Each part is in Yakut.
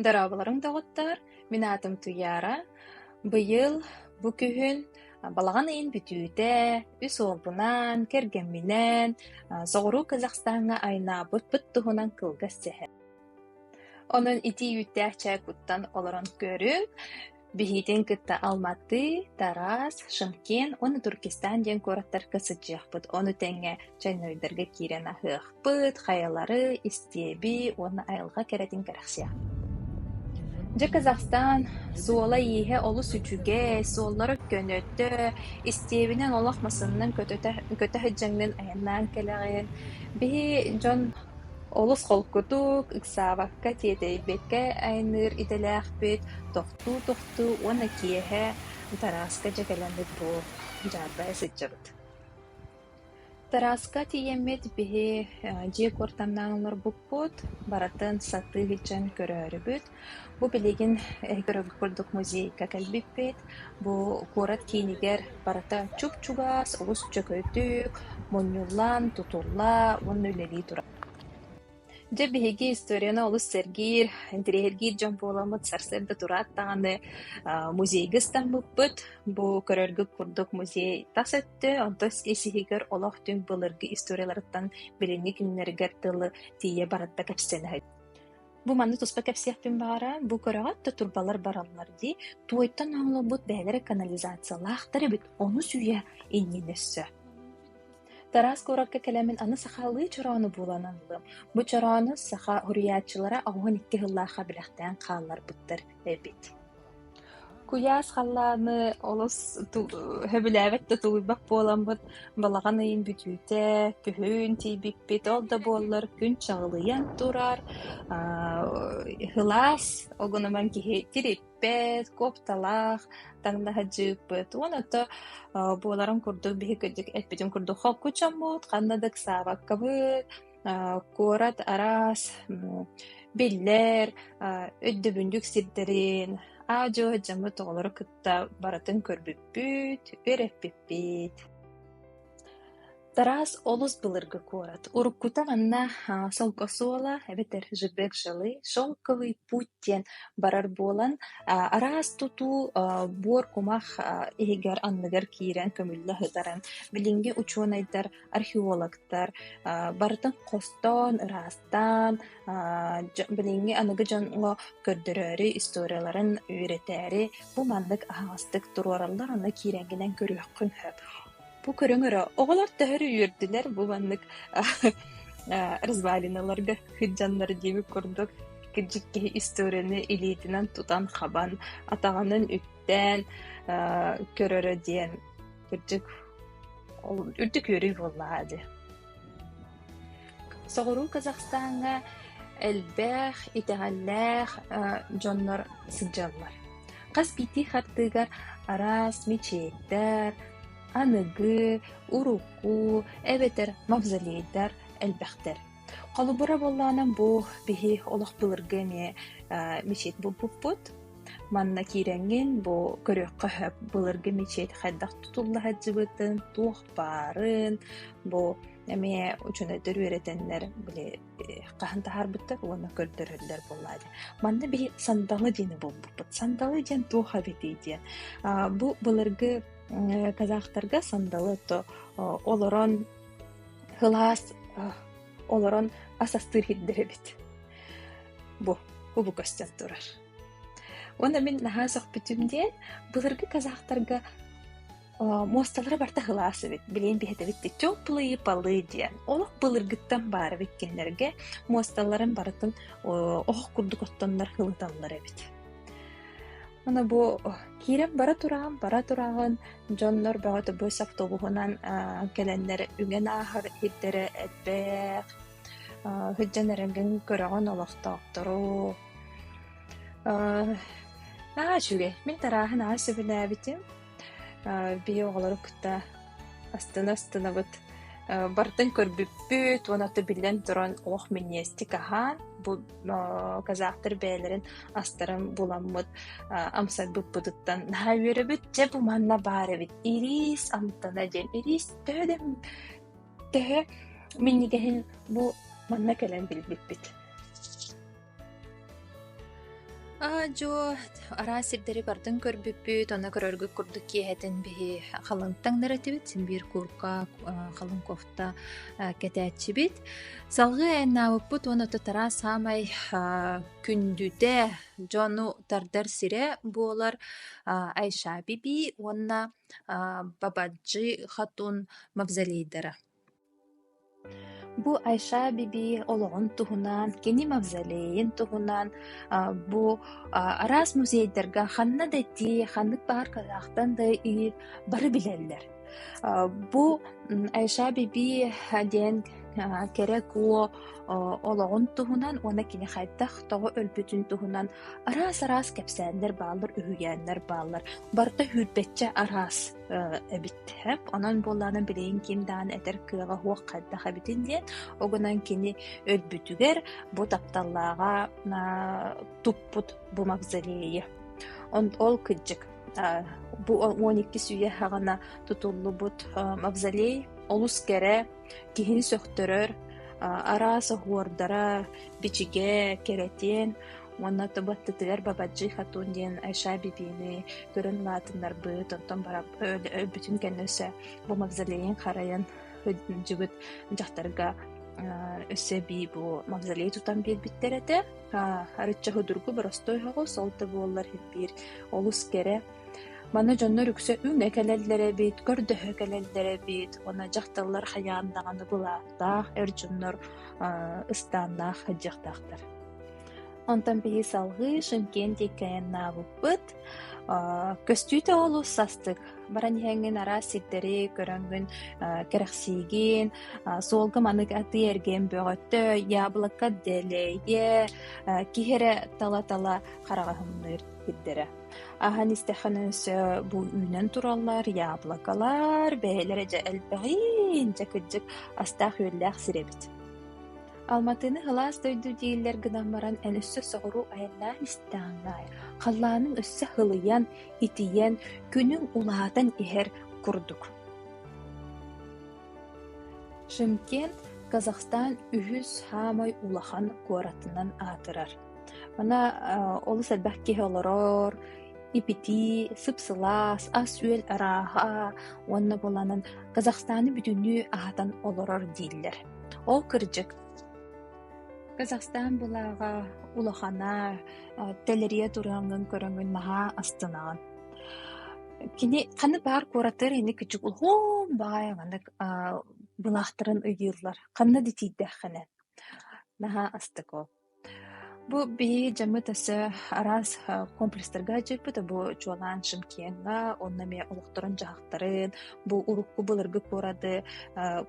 Дорооболоруҥ, доҕоттоор! Мин аатым Туйаара. Быйыл бу күһүн балаҕан ыйын бүтүүтэ үс уолбунаан, кэргэмминээн соҕуруу Казахстаҥҥа айнаабыппыт туһунан кылгас сэһэн. Онон итии үүттээх чай куттан олорон көрүҥ. Биһиитин кытта Алматы, Тарас, Шымкент уонна Туркестан диэн куораттарга сылдьыахпыт. Ону тэҥэ Чайнойдарга киирэн аһыахпыт, хайалары, истиэби уонна айылҕа кэрэтин кэрэхсиэхпит. Дьэ, Казахстан суола-ииһэ олус үчүгэй, суоллара көнөтө, истиэбинэн олох масыннан көтөтө көтө сылдьаҥҥын айаннаан кэлэҕин. Биһи дьон Олус холкутук, ыксаабакка, тиэтэйбэккэ айанныыр идэлээхпит, тохтуу-тохтуу уонна киэһэ Тарааска дьэ кэлэммит буол дьаарбайа сылдьабыт. Тарааска тиийэммит биһи дьиэ куортамнаан олорбуппут, барытын сатыы илдьэн көрөөрүбүт. Бу билигин көрөргүт курдук музейга кэлбиппит. Бу куорат киинигэр барыта чуп-чугас, олус чөкөтүк, мунньуллан, тутулла уонна үлэлии турар. Дьэ биһиги историябына олус сэргиир, интэриэһиргиир дьон буоламмыт сарсыарда тураат даҕаны аа музейга ыстаммыппыт. Бу көрөргүт курдук музей тас өттө, онтон сиһигэр олох-түҥ былыргы историяларыттан билиҥҥи күннэригэр дылы тиийэ баран да кэпсэнэ Бу манна туспа кэпсиэхпин баҕарар, бу көрөҕүт да турбалар бараллар дии, туойтан оҥолобут бэйэлэрэ канализациялаахтар эбит, онус үйэ иннинэ өссө. Тараас куоракка кэлэмин аны сахалыы чороону булан ыллым. Бу чороону саха суруйааччылара оҕуһун икки сыллаахха бэлэхтээн хаалларбыттар эбит. Куйаас халлааны олус сөбүлээбэт да тулуйбат буоламмыт, балаҕан ыйын бүтүүтэ күһүн тиийбиппит, ол да буоллар күн чаҕылыйан турар, һылаас огунуман киһи тириппэт, куопталаах таҥнаһа дьыыппыт. Уонна ото буоларын курдук биһиги кырдьык эппитин курдук холкучаммыт, ханна да ыксаабаккабыт. куорат араас биллэр, өйдөбүнньүк сирдэрин, аа-дьуо дьоммут оҕолоро кытта барытын көрбүппүт, үөрэппиппит. Тараас олус былыргы куорат. Уруккута манна Солко Суола эбэтэр Жебек Жилы, Шелковый путь диэн барар буолан, араас тутуу буор кумах иһигэр анныгар киирэн көмүллэ сытарын билиҥҥи учуонайдар археологтар барытын хостоон, ыраастаан, билиҥҥи аныгы дьоҥҥо көрдөрөөрү историяларын үөрэтээри бу маннык аһаҕастык туруораллар, аны киирэҥҥинэн көрүөххүн сөп. Бу көрүҥ өрө оҕолор төһөрү үөрдүлэр бу маннык развалиналарга сыдьаннар диэбит курдук кырдьык киһи историяны илиитинэн тутан-хабан, атаҕынан үктээн көрөрө диэн кырдьык ол үрдүк үөрүү буоллаҕа дьэ соҕуруу казахстаҥҥа элбэх итэҕэллээх дьоннор сылдьаллар хас биирдии хартыыгар араас мечеттэр аныгы урукку эбэтэр мавзолейдар элбэхтэр Холобура буоллаҕына, бу биһи олох былыргы эмиэ э, мечеть булбуппут. Манна киирэҥҥин бу көрүөххэ сөп былыргы мечеть хайдах тутулла сылдьыбытын, туох баарын, бу эмиэ учуонайдар үөрэтэннэр били э, хаһан таһаарбыттар уонна көрдөрөллөр буоллаа дии. Манна биһи сандалы диэни булбуппут. Сандалы диэн туох эбитий диэн. А, бу былыргы казахтарга сандалы то олорон Сылаас олорон ас астыыр иһирдэр эбит. Бу кубу көстөн турар. Уонна мин наһаа сөхпүтүм диэн, былыргы казахтарга муосталара барта сылаас эбит. Билигин биһэтэбит чоп плыйы-палы диэн. Олох былыргыттан баар эбит кинилэргэ. Муосталарын барытын оһох курдук оттоннор ылыталлар эбит. Аны бу киирэн бара тураҕын, бара тураҕын дьоннор бөҕөтө бу соптугуһунан аа кэлэннэр үҥэн ааһар сирдэрэ элбэх. Аа сылдьан эрэргин көрөҕүн олохтоохтору. Аа наһаа үчүгэй. Мин тарааһын аҕай сөбүлээбитим. Били оҕолору кытта астына-астынабыт, бартан көрбүппүт уонна ата биллэн туран олох миниэстик аһаан бу казахтар бэйэлэрин астарын буламмыт амсайбыппытыттан наһаа үөрэбит дьэ бу манна баар эбит ирис амтана диэн ирис төһө да төһө минньигэһин бу манна кэлэн билбиппит дьо араас сирдэри бардын көрбүппүт онно көрөргүт курдук киэһэтин биһи халаҥ таҥнар этибит син биир курка халаҥ кофта кэтээччибит салгыы эн наабыппыт уон отутара саамай күндүтэ дьону тардар сирэ буолар айша биби уонна бабаджи хатун мавзолейдара Бу Айша Бибии олоҕун туһунан, кини мавзолейын туһунан бу араас музейдарга ханна да этии, ханнык баҕар кылаахтан да иһии бары билэллэр. Бу Айша Бибии диэн кэрэ-куо олоҕун туһунан уонна кини хайдах тоҕо өлбүтүн туһунан араас-араас кэпсээннэр бааллар, үһүйээннэр бааллар. Барыта сүүрбэччэ араас эбиттэр. Онон буоллаҕына билигин ким даҕаны этэр кыаҕа суох хайдах эбитин диэн, ол гынан кини өлбүтүгэр бу тапталлааҕа туппут бу мавзолейы. Ол кырдьык бу он иккис үйэ хаҕына тутуллубут мавзолей олус кэрэ Киһини сөхтөрөр, араас оһуордара, бичигэ, кэрэтиэн уонна баттытыгар Бабаджи Хатун диэн Айша Бибини көрөн улаатыннарбыт, онтон өлбүтүн кэннэ өссө бу мавзолейын харайан сылдьыбыт дьахтарга өссө эбии бу мавзолей тутан биэрбиттэр этэ. Арычча судургу боростуой оҕус, ол да буоллар ирбиир олус кэрэ Маны дьоннор үксэ үҥэ кэлэллэр эбит, көрдөһө кэлэллэр эбит, уонна дьахталлар хайаан даҕаны былааттаах эр дьоннор аа ыстааннаах сылдьыахтаахтар. Онтон биһи салгыы Шымкент диэккэйэн наабыппыт. Аа көстүүтэ олус састык. Баран иһэҥҥин араас сирдэри көрөҥҥүн аа кэрэхсиигин, аа суолга маннык атыы эргиэн бөҕөттөй, яблоко делее, киһи эрэ тала-тала хараҕаһынныыр сирдэрэ. Аһан истэххинэ өссө бу үүнэн тураллар яблокалар, бэйэлэрэ дьэ элбэҕин, дьэ кырдьык астаах-үөллээх сир эбит. Алматыны һылаас дойду дииллэр гынан баран эн өссө соҕуруу айаннаан истэҕиҥ аайы халлааныҥ өссө һылыйан, итийэн, күнүҥ улаатан иһэр курдук. Шымкент Казахстан үһүс саамай улахан куоратынан аатырар. Мана олус элбэх киһи олорор, ипитии, сып-сылаас, ас-үөл арааһа уонна буоланан Казахстаны бүтүннүү аһатан олорор дииллэр. Ол кырдьык. Казахстан былааҕа улахана, тэлэрийэ туруоҥҥун көрөҥҥүн наһаа астынаҕын. Кини ханнык баар куораттар ини кичик улахан баҕайы маннык былаахтарын ыйыыллар. Ханна да тиийдэххинэ наһаа астык ол. Бу биһиги дьаммыт өссө араас комплестарга дьайбыта. Бу чуолаан Шымкеҥҥа, онно эмиэ олохторун-дьаһахтарын, бу урукку былыргы куораты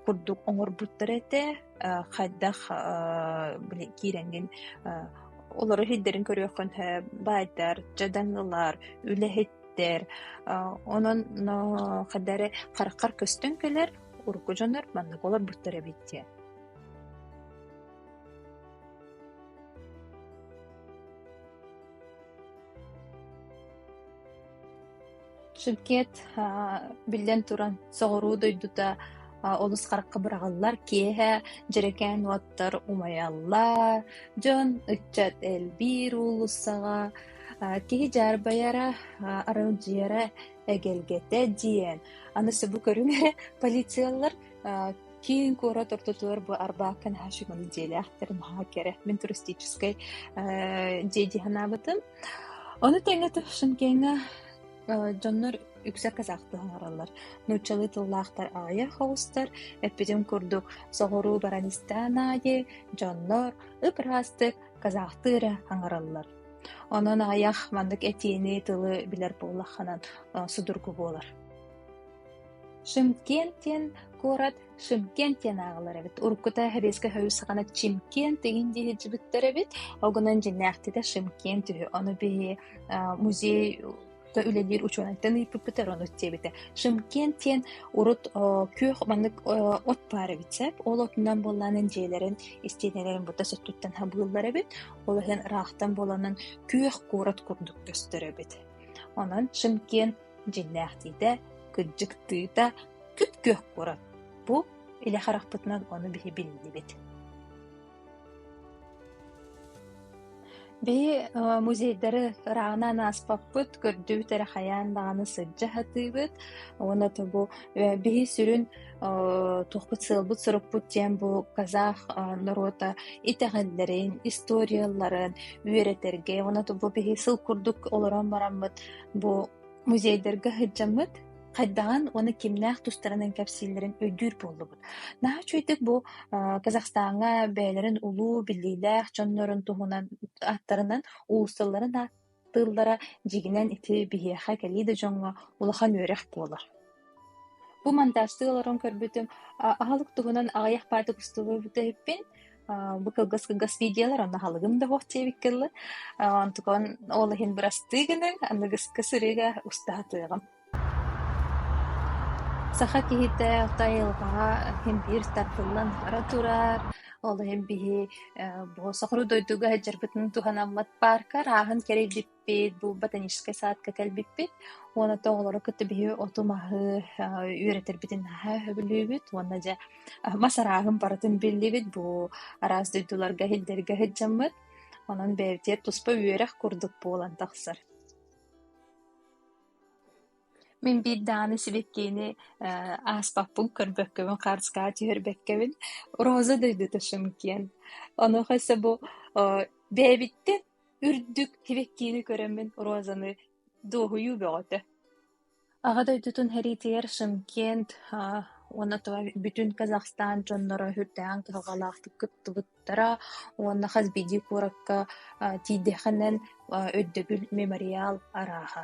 курдук оҥорбуттара этэ. Хайдах били киирэҥҥин олору иһитдэрин көрүөххүн баайдар, дьадаҥылар, үлэһиттэр. Онон хайда эрэ хараххар көстөн кэлэр урукку дьоннор маннык олорбуттар эбит диэн. Шыгкет биллэн туран соҕуруу дойдута олус харахха быраҕыллар киэһэ дьэрэкээн уоттар умайаллар дьон ыччат элбиир уулуссаҕа киһи дьаарбайара аралдьыйара эгэлгэтэ дьиэн аны субу көрүҥ эрэ полициялар киин куорат ортотугар бу арбаакка наһаа сүҥүрүк дьиэлээхтэр наһаа кэрэ мин туристическай дьиэ дии санаабытым ону тэҥэ Шымкеҥҥа дьоннор үксэ казахты оҥороллор нууччалыы тыллаахтар аайы хоҕустар эппитим курдук соҕуруу баранистан аайы дьоннор ыпыраастык казахты эрэ оҥороллор онон аайах маннык этиини тылы билэр буоллаххынан судургу буолар Шымкент-диэн куорат Шымкент диэн ааҕылар эбит. Уруккута Сэбиэскэй союз саҕана Чимкент дигин дии сылдьыбыттар эбит. Огунан дьиҥнээхтитэ Шымкент үһү. Ону биһи музей үлэлиир учуонайтан ыйыппыттар ону диэбитэ. Шымкент диэн урут күөх маннык от баар эбит сөп. Ол отунан буоллаанын дьиэлэрин истиэнэлэрин бута соттуттан хабыыллар эбит. Ол иһин ыраахтан буоланын күөх куорат курдук көстөр эбит. Онон Шымкент дьиҥнээхтиитэ, кыддьыктыыта күп-күөх курат. Бу илэ харахпытынан ону биһи биллибит Биһи музейдары ырааҕынан ааспаппыт, көрдүбүт эрэ хайаан даҕаны сылдьа сатыыбыт. Уонна тобу биһи сүрүн туохпут сыалбыт сорукпут диэн бу казах норуота итэҕэллэрин, историяларын үөрэтэргэ уонна тобу биһи сыл курдук олорон бараммыт Бу музейдарга сылдьаммыт, хайдаҕын уонна кимнээх тустарынан кэпсииллэрин өйдүүр буоллубут. Наһаа үчүгэйдик бу а, Казахстаҥҥа бэйэлэрин улуу биллиилээх дьоннорун туһунан ааттарынан уулуссаларын ааттыыллара дьиҥинэн ити биһиэхэ кэлии да дьоҥҥо улахан үөрэх буолар. Бу монтажтыы олорон көрбүтүм, а аһылык туһунан аҕыйах паар тупустугу бүтэһиппин, а бу кылгас-кылгас видеолар, онно аһылыгым да суох диэбиккэ дылы, а онтукан ол иһин бырастыы гынан, аныгыскы сырыыга уста сатыаҕым. Саха киһитэ Хотой Албаҕа иһин биир тартыллан бара турар, ол иһин биһи э бу соҕуруу дойдуга сылдьарбытын туһанаммыт паарка арааһын кэрэйдиппит Пейт был ботаническай саадка кэлбиппит уонна то оҕолору кытта биһи оту-маһы үөрэтэрбитин наһаа сөбүлүүбүт уонна дьэ мас арааһын барытын биллибит бу араас дойдуларга иһиллэргэ сыдьаммыт онон бэйэтигэр туспа үөрэх курдук буолан тахсар мин биир дааны сибэккиини ааспаппын көрбөккөбүн харыскаҕа түһэрбэккэбин роза дойдута шымкент онуоха эсэ бу бэйэбиттэн Үрдүк кибиктиини көрөммүн розаны дуоһуйуу бөҕөтө Аҕа дойдутун сэриитигэр Шымкент уонна бүтүн Казахстан дьонноро үрдээҕин кыһалҕалаахтык кыттыбыттара уонна хас биирдии куоракка тиийдэхинэн Өйдөбүл мемориал арааһа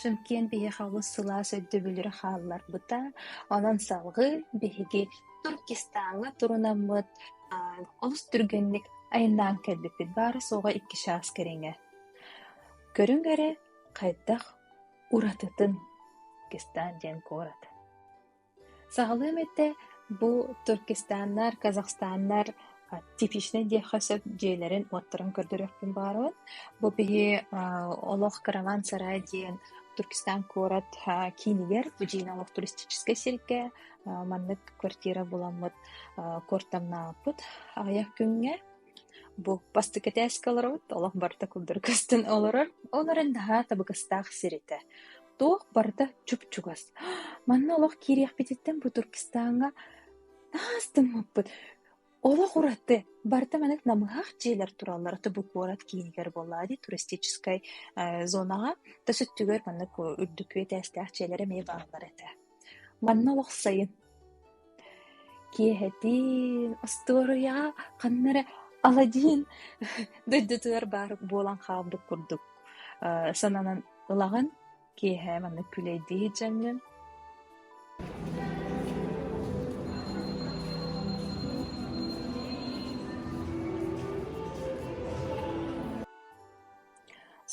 Сөмкиэн биһиэхэ олус сылаас өйдөбүллэри хаалларбыта, онон салгыы биһиги Туркестааҥҥа турунаммыт олус түргэнник айаннаан кэлбиппит баара-суоҕа икки чаас кэриҥэ Көрүҥ эрэ, хайдах уратытын Кистан-Дьэҥ куорат Саҕалыам этэ, бу туркестаннар, казахстаннар типичнай диэххэ сөп дьиэлэрин-уоттарын көрдөрүөхпүн баҕарабын. Бу биһи олох караван-сарай диэн Туркестан куорат киинигэр, бу дьиэни олох туристическай сиргэ маннык квартира буламмыт куортамнаабыт аҕыйах күҥҥэ. Бу бастакы этээскэ олоробут, олох барыта курдары көстөн олорор. Ол эрэн наһаа табыгастаах сир этэ. Туох барыта чуп-чугас. Манна олох киириэхпититтэн бу Туркестааҥҥа таас тыммыппыт. Олох ураты. Барыта маннык намыһах дьиэлэр тураллара то бу куорат киинигэр буоллаҕа дии туристическай э, зонаҕа. То сүттүгэр маннык үрдүкү этээстээх дьиэлэр эмиэ бааллар этэ. Манна олохсойон киэһэтин остуоруйаҕа ханна эрэ Аладдин дойдутугар баар буолан хаалбыт курдук э сананан ылаҕын. Киэһэ маннык күлэйдии сылдьаҥҥын.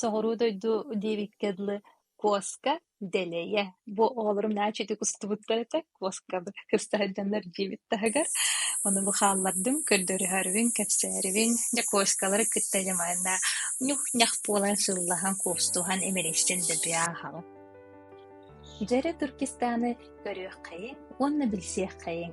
Соҕуруу дойду диэбиккэ дылы Куоска дэлэйэ, бу оҕолорум нааччытык устубуттар этэ, куоска кыста сылдьаннар дьиэбит таһыгар. Ону бу хааллардым, көрдөрүһэрбин, кэпсээбин. Дьэ куоскалары кытта дьэ манна ньух-ньах буолан сыллаһан, куостуһан имэрийсэн да биэ аһаҕын. Дьэ эрэ Туркестаны көрүөххэйиҥ уонна билсиэххэйиҥ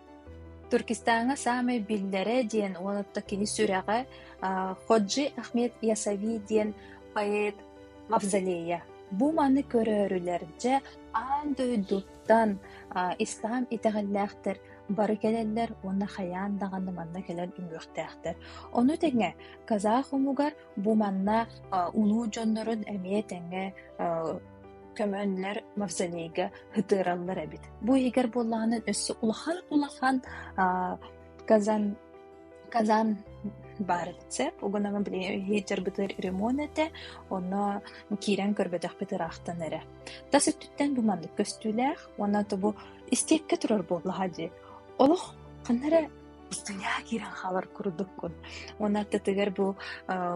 Түркистааҥҥа саамай биллэрэ диэн уолатта киһи сүрэҕэ Ходжи Ахмед Ясави диэн поэт мавзолейа. Бу маны көрөөрүлэрдьэ аан дойдуттан ислам итэҕэллээхтэр бары кэлэллэр уонна хайаан даҕаны манна кэлэн үҥүөхтээхтэр. Ону тэҥэ казах омугар бу манна улуу дьоннорун эмиэ тэҥҥэ көмөннөр мавсанейга ытыыраллар эбит. Бу иһигэр буоллаҕына өссө улахан-улахан казан казан баар эбит угунаҕа иһиттэр бытыыр ремонт этэ онно киирэн көрбөтөхпүт ыраахтан эрэ тас өттүттэн бу маннык көстүүлээх уонна тобу истиэккэ турар буоллаха дии олох ханна эрэ устуйаа киирэн хаалар курдуккун. Уон ардытыгар бу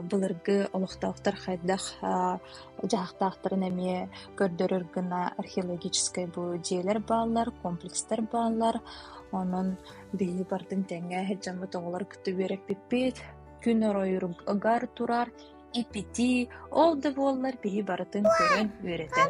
былыргы олохтоохтор хайдах дьаһахтаахтарын эмиэ көрдөрөр гына археологическай бу дьиэлэр бааллар, комплекстар бааллар. Онон биһи бардын тэҥэ дьоммут оҕолор кытта үөрэппиппит, күн оройур ыгар турар, ипити, ол да буоллар биһи барытын көрөн үөрэтэн.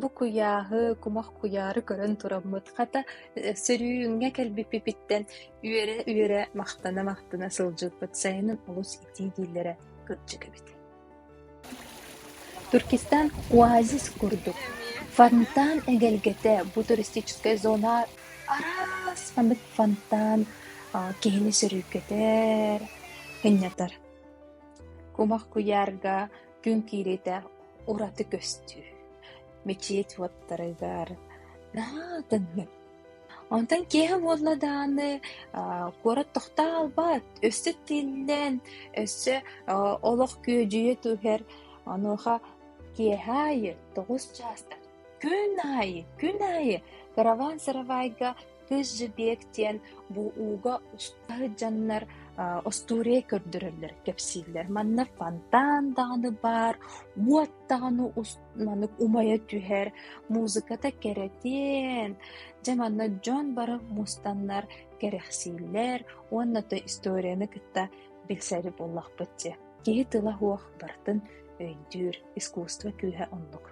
Бу куйааһы, кумах куйаары көрөн тураммыт, хата, сөрүүҥҥэ кэлбиппититтэн үөрэ-үөрэ, махтана-махтана сылдьыппыт сайынын олус итии дииллэрэ кырдьык эбит Түркистан оазис курдук, фонтан эгэлгэтэ бу туристическай зона араас ханнык фонтан киһини сөргүтэр, ынньатар. Кумах куйаарга күн киириитэ ураты көстүү, мичийэ чуоттарыгар наадыҥҥын Онтон киэһэ буолла даҕаны, аа, куорат тохтоо хаалбат, өссө тиллэн, өссө аа, олох күөдьүйэ түһэр. Онуоха киэһэ аайы тоҕус чаастан күн аайы, күн аайы кыраван-сыравайга Кыыс Дьэбиэк диэн бу ууга устта сылдьаннар аа, остуоруйа көрдөрөллөр, кэпсииллэр. Манна фонтан даҕаны баар, уот даҕаны устар маннык умайа түһэр музыката кэрэтиэн дьэ манна дьон бары мустаннар кэрэхсииллэр уонна да историяны кытта билсэри буоллахпыт дьэ киһи тыла-уох барытын өйдүүр искусство күүһэ оннук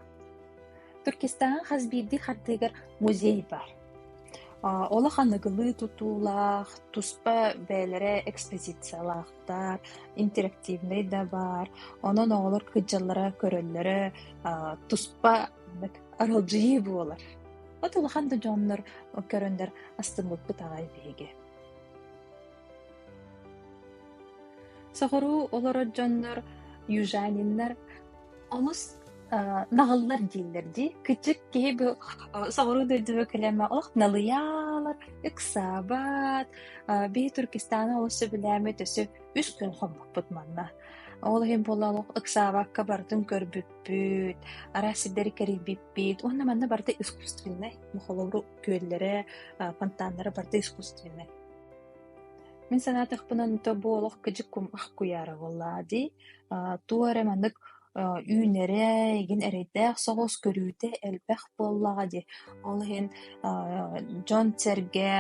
Түркистаҥҥа хас биирдии хартыыгар музей бар олох аныгылыы тутуулаах туспа бэйэлэрэ экспозициялаах дьарыктаах, интерактивнай да баар. Онон оҕолор кыддьаллара-көрөллөрө туспа аралдьыйыы буолар. От улахан да дьоннор көрөндөр астыммыппыт аҕай биһиги. Соҕуруу олорор дьоннор южаниннар Олус наҕыллар дииллэр дии. Кычык киһи бу соҕуруу дойдуга кэлэмэ ох налыйаалар, ыксаабат, бии Түркистаны олус сөбүлээмит өсө үс күн хоммуппут манна. Ол иһин буолла олох ыксаабакка барытын көрбүппүт, араас сирдэри кэрийбиппит. Уонна манна барыта искусственнай. Мохолору күөллэрэ, фонтаннара барыта искусственнай. Мин санаатахпынан то бу олох кыдьык кум ах куяра болла дии. туох эрэ маннык үүнэрэй, игин эрэйдээх соҕус көрүүтэ элбэх буоллаҕа дии. Ол иһин дьон-сэргэ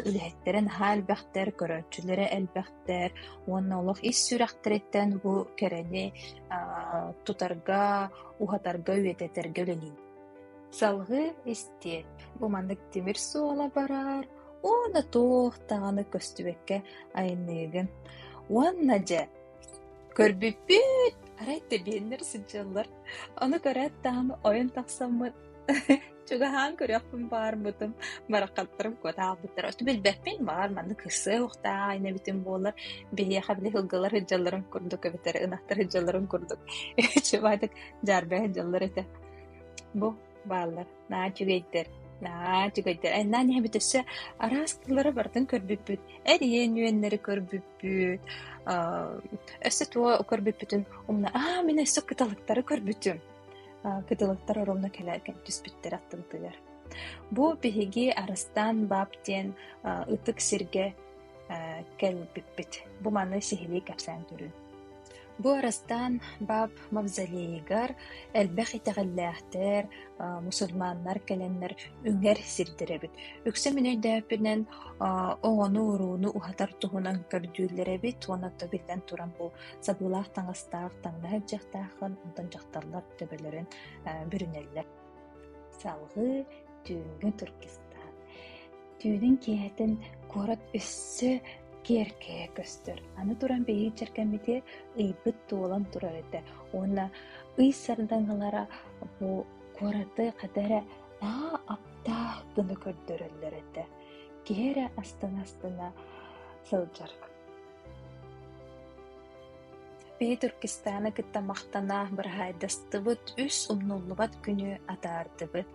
үлэһиттэрэ наһаа элбэхтэр, көрөөччүлэрэ элбэхтэр уонна олох ис сүрэхтэриттэн бу кэрэни тутарга, уһатарга, үйэтитэргэ үлэлиир. Салгыы истиэт, бу маннык тимир суола барар уонна туох даҕаны көстүбэккэ айанныыгын. Уонна дьэ Көрбүппүт, арай тэбиэннэр сылдьаллар. Ону көрөөт даҕаны ойон тахсаммыт, чугаһаан көрүөхпүн баарбытым, бараххаттарым куот аахбыттара. Оттон билбэппин, баҕар, манна кырсыа-уохтаах аайна эбитим буоллар, биһиэхэ били ылгылар сылдьалларын курдук эбэтэр ынахтар сылдьалларын курдук чубаатык дьаарбай сылдьаллар этэ. Бу бааллар наа үчүгэйдэр наа үчүгэйдэр эн наан эбит өссө араас тыллары барытын көрбүппүт эр иэн үөннэри көрбүппүт Өссө туох көрбүппүтүн умна аа мин өссө кыталыктары көрбүтүм. Кыталыктар оромно кэлэрген түспүттэр аттымтыгар. Бу биһиги Арыстан баб диэн ытык сиргэ кэлбиппит. Бу маны сиһилии кэпсээн түрүн. Бу Арастаан бааб мавзолейыгар элбэх итэҕэллээхтэр, мусульманнар кэлэннэр үҥэр сирдэрэ эбит. Үксэ мин өйдөөппүнэн, оҕону-урууну уһатар туһунан көрдүүллэр эбит уонна оттон биллэн туран бу сабыылаах таҥастаах, таҥна сылдьыахтааххын, онтон дьахталлар төбөлөрүн бүрүнэллэр. Салгыы түүҥҥү туркестаан. Түүнүн киэһэтин куорат өссө киэркэйэ көстөр. Аны туран биһиги чэркэммити ыйбыт туолан турар этэ уонна ый сардаҥалара бу куораты хата эрэ аа аптаах гына көрдөрөллөр этэ. Киһи эрэ астына-астына сылдьар. Петеркистаны кытта махтана быраһаайдастыбыт үс умнуллубат күнү атаардыбыт.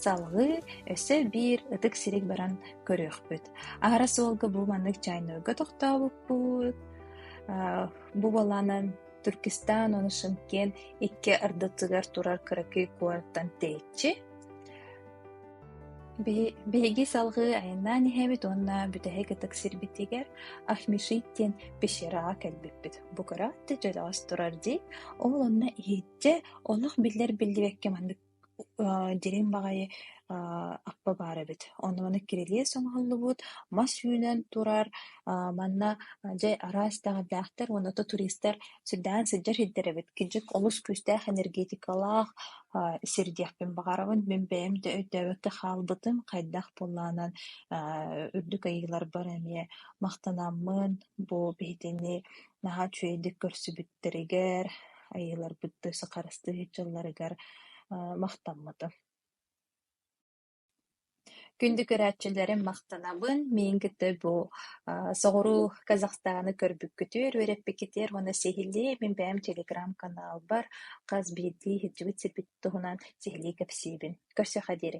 Салгыы өссө биир ытык сириг баран көрүөхпүт. Аһара суолга бу маннык чайнойго тохтообуппут. Бу буолаанан Түркистан ону Шымкент икки ардытыгар турар кыракый куораттан тэйиччи Биһиги салгыы айаннаан иһэбит уонна бүтэһик ытык сирбитигэр Ахмешит диэн пещераҕа кэлбиппит. Бу кыра өттө дьөлөҕөс турар дии, ол онно иһирдьэ олох биллэр-биллибэккэ маннык дириҥ баҕайы аппа баар эбит. Онно кирилиэс оҥоһуллубут, мас үүнэн турар, манна дьэ араас даҕайдаахтар уонна туристар сүрдээн сылдьар сирдэр эбит. Кырдьык олус күүстээх энергетикалаах сирдиэхпин баҕарабын. Мин бэйэм да өйдөөбөккө хаалбытым, хайдах буоллаҕынан үрдүк айыыларбар эмиэ махтанаммын, бу биһигини наһаа үчүгэйдик көрсүбүттэригэр, айыыларбыт да сахарастыы сылдьалларыгар махтаммытым. Күндү көрөөччүлэрим, махтанабын! Миигин кытта бу соҕуруу Казахстаны көрбүккүтүгэр, үөрэппиккитигэр уонна сиһилии мин бэйэм телеграм-каналбар хас биирдии иһитсибит сирбит туһунан сиһилии кэпсиибин. Көрсүөххэ диэри!